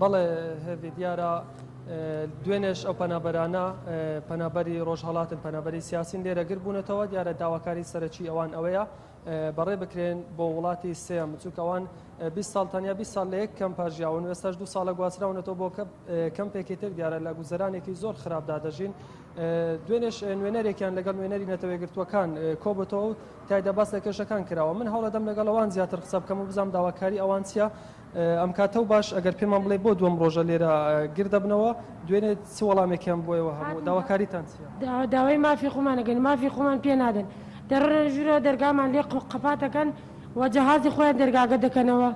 بەڵێ هێڤی دیارە دوێنێش ئەو پەنابەرانە پەنابەری ڕۆژهڵاتن پەنابەری سیاسین لێرە گر بوونەتەوە دیارە داواکاری سەرەکی ئەوان ئەوەیە بەڕێ بکرێن بۆ وڵاتی سێم چونکەوان 20 ساڵ تەنیا 20 ساڵ لە یەک کەم پاژیاون وێستاش دو ساڵە گواستراونەتەوە بۆ کە کەم پێکی تر دیارە لە گوزەرانێکی زۆر خراپدا دەژین دوێنێش نوێنەرێکیان لەگەڵ نوێنەری نەتەوەی گرتووەکان کۆبتەوە تیایدا باس لە کێشەکان کراوە. من هەوڵەدەم لەگەڵ ئەوان زیاتر قسە بکەم و بزانم داواکاری ئەوان چییە ئەم کاتە و باش ئەگەر پێمان بڵێی بۆ دووەم ڕۆژە لێرە گرد دەبنەوە، دوێنێ چ وەڵامێک یان بۆ ئێوە هەبوو؟ داواکاریتان چییە؟ داوای مافی خۆمان ئەکەین و مافی خۆمان پێ نادەن. دەڕۆنە ژوورەوە دەرگامان لێ قەپات ئەکەن و جەهازی خۆیان دەرگاکە دەکەنەوە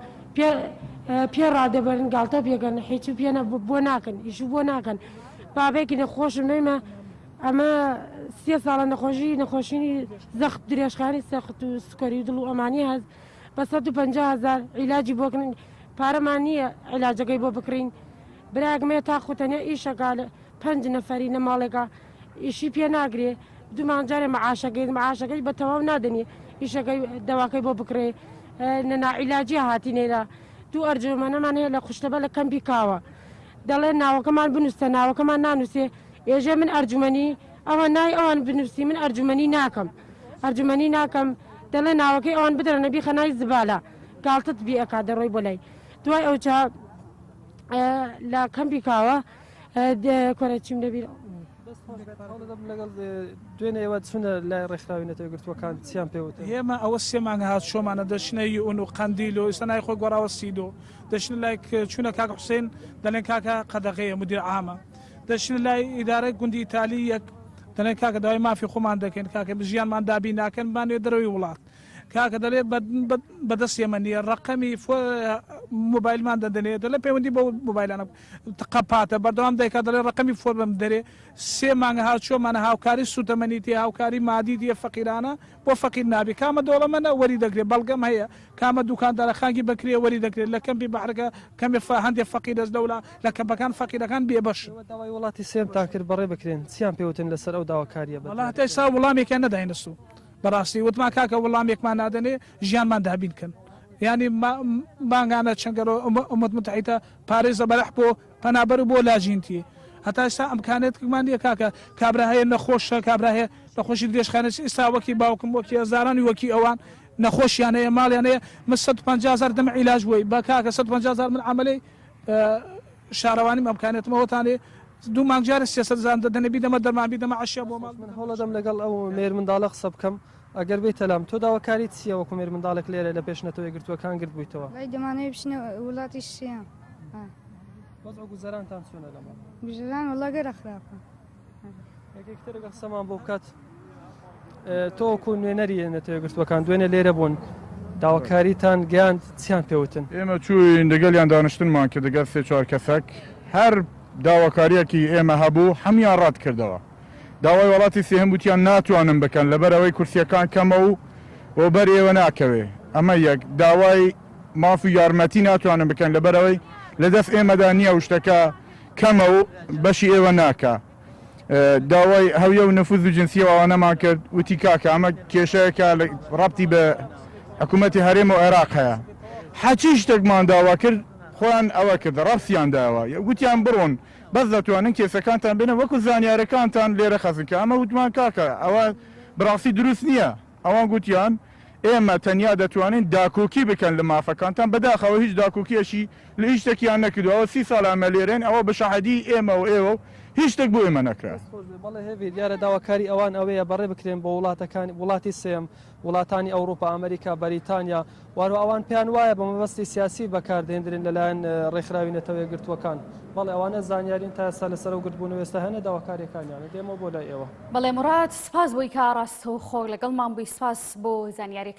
پێ ڕادەبەرن گاڵتە پێکەن حیچ و پێ بۆ ناکەن ئیش و بۆ ناکەن بابەیەکی نەخۆشم نەویمە. ئەمە سێ ساڵە نەخۆشی نەخۆشیی زەخت درێژخانی سەخت و سکەری و دڵ و ئەمانی هەز بە 150 هزار عیلاجی بۆکنین پارەمان نییە عیلاجەکەی بۆ بکڕین براگمێ تا خوتەنێ ئیشەکە لە پەنج نەفەری لە ماڵێکە ئیشی پێ ناگرێ دومان جارێ معاشەکەی معاشەکەی بە تەواو نادەنی ئیشەکەی دەواکەی بۆ بکڕێ نەنا عیلاجی هاتی نێرە دوو ئەرجۆمەنەمان هەیە لە خوشتەبە لە کەمپی کاوە دەڵێن ناوەکەمان بنووسە ناوەکەمان نانووسێ ئێژێ من ئەرجومەنی ئەوان ناوی ئەوان بنووسی من ئەرجومەنی ناکەم ئەرجومەنی ناکەم دەڵێ ناوەکەی ئەوان بدرنە بیخە نای زبالە گاڵتت بی ئەکا دەڕۆی بۆ لای دوای ئەو چا لە کەمپی کاوە کۆرە چیم دەبیر لەگەڵ دوێنێ ئێوە چونە لای ڕێکخراوی نەتەوە گرتووەکان چیان پێوت ئێمە ئەوە سێمانگە هات شۆمانە دەچنە یون و قندیل و ئێستا نای خۆی گۆڕاوە سیدۆ دەچنە لای چوونە کاک حوسێن دەڵێن کاکە قەدەغەیە مدیر عامە دەچنە لای ئیدارەی گوندی تالی یەک دەلێن کاکە داوای مافی خۆمان دەکەین کاکە ژیانمان دابین ناکەن بمانەوێت دەرەوەی وڵات کاکە دەلێ بەدەست ئێمە نیە ڕەقەمی موبایلمان دەدەنێ دەلێ پەیوەندی بە موبایلانە تقەپاتە بەردەوام دایکا دەلێ ڕەقەمی فۆرمم دەرێ سێ مانگە هاوچۆمانە هاوکاری سوتەمەنی تێ هاوکاری مادی تێ فەقیرانە بۆ فەقیر نابێ کامە دەوڵەمەنە وەری دەگرێ بەڵگەم هەیە کامە دوکاندارە خانگی بەکرێ وەری دەگرێ لە کەمپی بەحرەکە کەمێ فە هەندێ فەقیرەس لەولا لە کەمپەکان فەقیرەکان بێ بەشن. ئێوە داوای وڵاتی سێم تان کرد بەڕێ بکرێن چیان پێ وتن لەسەر ئەو داواکاریە بە وەڵا هەتا ئیستا وڵامێکیان نەداینە سوو بەڕاستی وتمان کاکە وڵامێکمان نادەنێ ژیانمان دابین کەن یانی ما مانگانە چەن گەرۆ ئومە ئومەت موتەحیتە پارێزە بەرەح بۆ پەنابەرو بۆ لاجینتی هەتا ئیستا ئەمکانێتکمان نیە کاکە کابرا هەیە نەخۆشە کابرا هەیە نەخۆشی درێژخایەنە چ ئیستا وەکی باوکم وەکی هەزارانی وەکی ئەوان نەخۆشیان هەیە ماڵیان هەیە من سەد و پەنجا هەزار دەمە عیلاج بۆی بە کاکە سەد و پەنجا هەزار من عەمەلەی شارەوانیم ئەمکانێتم ئەوەتانێ دوو مانگ جارێ سێ سەد هەزارم دەدەنێ بیدەمە دەرمان بیدەمە عەشیا بۆ ماڵ من هەوڵەدەم لەگەڵ ئەو مێرمنداڵە قسە بکەم ئەگەر بێیتە لام، تۆ داواکاریت چییە وەکو مێرمنداڵێک لێرە لە پێش نەتەوە یەکگرتووەکان گرد بوویتەوە؟ وەی دەمانەوێت بچینە وڵاتی شیام. وەزع و گوزەرانتان چۆنە لەمە؟ گوزەران وەڵا گەرە خراپە. یەکێکتر لەگەڵ قسەمان بۆ بکات تۆ وەکو نوێنەری نەتەوە یەکگرتووەکان دوێنێ لێرە بوون داواکاریتان گەیاند چیان پێوتن؟ ئێمە چووین دەگەڵیان دانیشتنمان کرد دەگەڵ سێ چوار کەسێک هەر داواکارییەکی ئێمە هەبوو هەموویان ڕەتکردەوە. داوای وەڵاتی سێهەم وتیان ناتوانن بکەن لەبەر ئەوەی کورسیەکان کەمە و بۆ بەر ئێوە ناکەوێ ئەمە یەک داوای ماف و یارمەتی ناتوانن بکەن لەبەر ئەوەی لە دەست ئێمەدا نییە و شتەکە کەمە و بەشی ئێوە ناکا داوای هەویە و نەفوز و جنسیە ئەوانەمان کرد وتی کاکە ئەمە کێشەیەکە ڕەبتی بە حکوومەتی هەرێم و عێراق هەیە حەچی شتێکمان داوا کرد خۆیان ئەوە کرد ڕەفسیان داوە وتیان بڕۆن بەس دەتوانن کێسەکانتان بێنن وەکو زانیارەکانتان لێرە خەزن کە ئەمە وتمان کاکە ئەوە بەڕاستی دروست نییە ئەوان گوتیان ئێمە تەنیا دەتوانین داکۆکی بکەن لە مافەکانتان بەداخەوە هیچ داکۆکیەشی لە هیچ شتەکیان نەکردو ئەوە سی ساڵە ئەمە لێرەن ئەوە بە شەهادی ئێمە و ئێوە و هیچ شتێک بۆ ئێمە نەکرا. دەست خۆش بێ بەڵێ هێڤیر دیارە داواکاری ئەوان ئەوەیە بەڕێ بکرێن بۆ وڵاتەکانی وڵاتی سێم وڵاتانی ئەوڕوپا، ئەمریکا، بەریتانیا و هەروە ئەوان پێیان وایە بە مەبەستی سیاسی بەکار دەهێندرێن لە لایەن ڕێکخراوی نەتەوە یەکگرتووەکان. بەڵێ ئەوانە زانیارین تا ئێستا لەسەر ئەو گردبوونەوە ئێستا هێنە داواکاریەکانیانە دێمەوە بۆ لای ئێوە. بەڵێ موراد سپاس بۆی کە ڕاستەوخۆ لەگەڵمان بووی سپاس بۆ زانیاریەکانت.